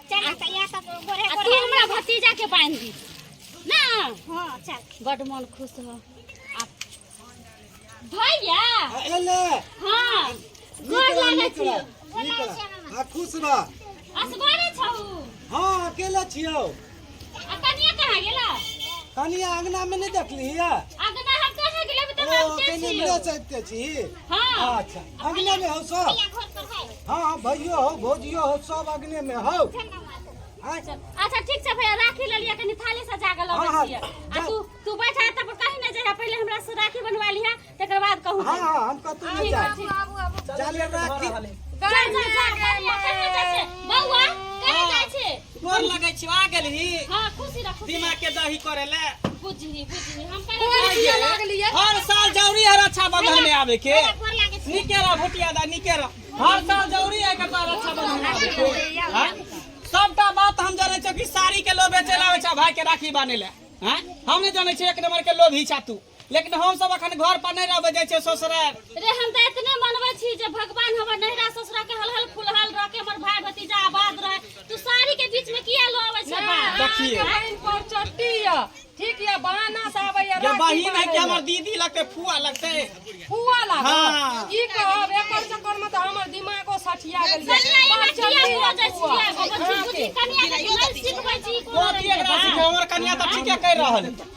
चल ना सैया सब गोरे आ गोरे तू हमरा भतीजा के बांध दी ना हां चल बड मन खुश हो आ भैया अले हां गोर लागै छी आ खुश रह असगरे छौ हां अकेले छियौ आ कनिया कहाँ गेला कनिया अंगना में नहीं देखली है अगना हम कहाँ गेला बता ओ हम के कनिया छियो मेरे साथ के छी हां अच्छा अंगना में हो सब भैया घर पर है हाँ हाँ भैयो हो भौजियो हो सब अंगने में हो हाँ, अच्छा ठीक छै भैया राखी ल लिया कनी थाली सजा के हाँ, लबै हाँ, छियै आ जा। तू तू बैठा तब कहीं न जाय पहिले हमरा से राखी बनवा लिहा तकर बाद कहू हाँ हाँ हम कतू नहीं आबू, जाए आबू, आबू। चलिए राखी जा, जा, जा, कनिया, कनिया जाइ छै। बौआ कनिया जाइ छै गोर लगै छी आ गेलही हाँ खुशी रह खुशी दिमाग के दही करे ले बुझही बुझही हम गोर कनिया किया लागली है? हर साल जरूरी है रक्षाबंधन में आवे के गोर लागै छै निके रह भुटिया दा निके रह हर साल जरूरी है कटा रक्षाबंधन में आवे के हाँ? सबटा बात हम जाने छो कि साड़ी के लोभ बेचे लावे छा भाई के राखी बाने ले हाँ? हम नहीं जाने छी एक नंबर के लोभ ही छा तू लेकिन हम सब अखन घर पर नहीं रहबे जाय छै ससुराल रे हम त इतने मनबै छी जे भगवान हमर नैहरा ससुरा के हलहल फुलहल रह के हमर भाई भतीजा आबाद रहे तू साड़ी के बीच में किया लो आबै छै बात देखिए बहिन पर चट्टी या ठीक या बहाना से आबै या ये बहिन है कि हमर दीदी लगते फुआ लगते फुआ लाग हाँ। की कहब एकर चक्कर में त हमर दिमागो सठिया गेल कनिया ई बात किया लो जाय छी आगो बच्ची बुच्ची कनिया के नहीं सिखबै छी कोनो गोदी एकरा सिखाओ, हमर कनिया त ठीके कह रहल है।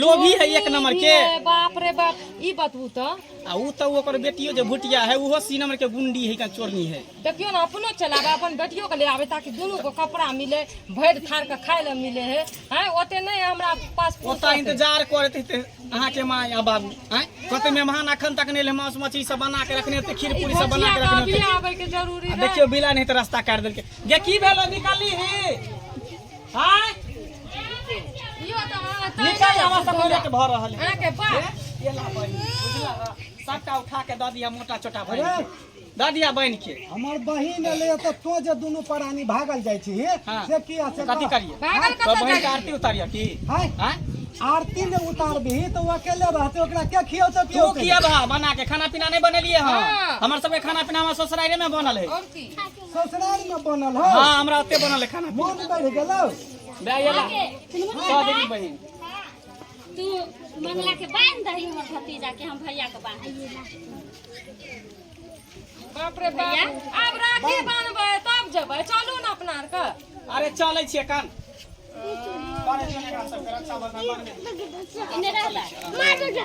लोभी है एक नंबर के ए, बाप रे बाप ई बतबू तऽ आ ऊ तऽ ओकर बेटियो जे भुटिया है उहो सी नंबर के गुंडी है का चोरनी है देखियो ने अपनो चलाबे अपन बेटियो के ले आबे ताकि दुनू को कपड़ा मिले भरि थार के खाय ले मिले है हैं ओते नहीं हमरा पास ओतऽ फुर्सत है। इंतजार करत हेतै अहाँके माँ या बाबू आँय कते मेहमान अखन तक नहि एलै मांस मछली सब बना के रखने हेतै खीर ई पूरी सब बना भोजिया के का रखने अभी हेतै आबे के जरूरी आ है देखियौ बिला नहि तऽ रास्ता काटि देलकै गे की भेल निकाली ही हां यो त निकल हमरा सब रेट भ रहल है अहाँ के बा ये ला बन बुझला सबटा उठा के द दिया मोटा छोटा भर द दिया बन के हमर बहिन एलै तऽ तो जे दुनू प्राणी भागल जाइ छी हाँ। से की आ से कथी कह। करिए भागल तो कतऽ बहन के जाई आरती उतारिए की हाय हां आरती ने उतारबही तऽ ओ अकेले रहतै ओकरा के खियौतै तू पियौतै किया बा बना के खाना पीना नहीं बनेलिए हां हाँ। हमर सबके खाना पीना हमर ससुराइरे में बनल है और की ससुराल में बनल है हां हमरा अते बनल है खाना मन बढ़ गेलो बेयला कह देबी बहिन तू मंगला के बांध दही हमर भतीजा के हम भैया के बांध बाप रे बाप अब राखी बांधबै तब जेबै चलू ने अपना आर के अरे चलै छियै कान बारे चले का सब रक्षा बंधन बांध दे इने रहला मार दे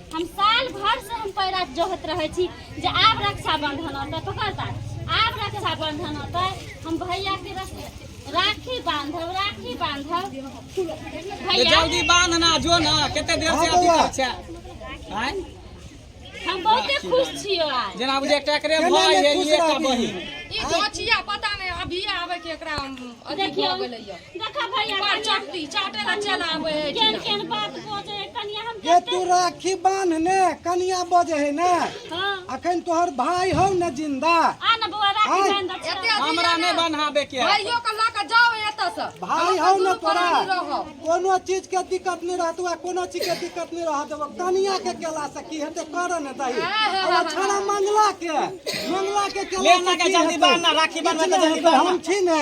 हम साल भर से हम पैरा जोहत रहे छी जे आब रक्षाबंधन होते पकड़ ता आब रक्षाबंधन होते हम भैया के रख- राखी बांधब राखी बांधब तो भैया जल्दी बांध ना जो ना कते देर से अथी कर छै आय हम बहुते खुश छियो आज जेना बुझे एकटा एकरे भाई है एकटा बहिन ई दोचिया पता नहि अभी आबे के एकरा अथी देखियौ। भऽ गेलैया ये तू राखी बांधने कनिया बजे है ना अखन तोहर भाई हो न जिंदा हमरा नहीं बनाबे के है। भाइयो के लऽ कऽ जाओ एतऽ से भाई हो न तोरा कोनो चीज के दिक्कत नहीं रहत हुआ कोनो चीज के दिक्कत नहीं रहत हुआ कनिया के केला से की हेते कर न दही और छाड़ा मंगला के मंगला के केला ले से लगा की जल्दी हेतै? बांधना, राखी बांधबै तऽ जल्दी किछु नहि हेतै, हम बांधना। छी ने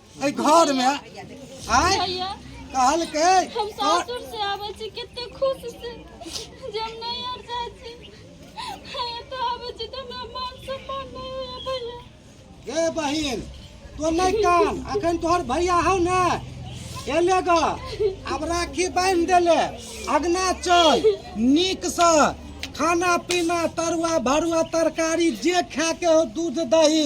एहि घर में आय भैया कहलकै हम और- सासुर से आबै छी कते खुश से जे हम नहीं आर जाइ छी भैया तो आबै छी तऽ हमरा मान सम्मान नहीं होइए भैया गे बहिन तो नहीं कान अखन तोहर भैया हौ ने एले ग आब राखी बांधि देले अगना चल नीक से खाना पीना तरुआ भरुआ तरकारी जे खाके हो दूध दही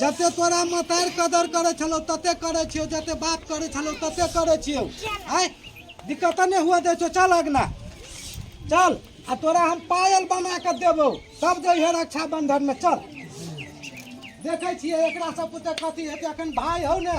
जते तोरा मतार कदर करे छलो तते करे छियो जते बाप करे छलो तते करे छियो आय दिक्कत नहीं हुआ दे छो चल अगना चल आ तोरा हम पायल बना के देबो सब जे है रक्षा बंधन में चल देखे छिए एकरा सब पुते कथी हेते अखन भाई हो ने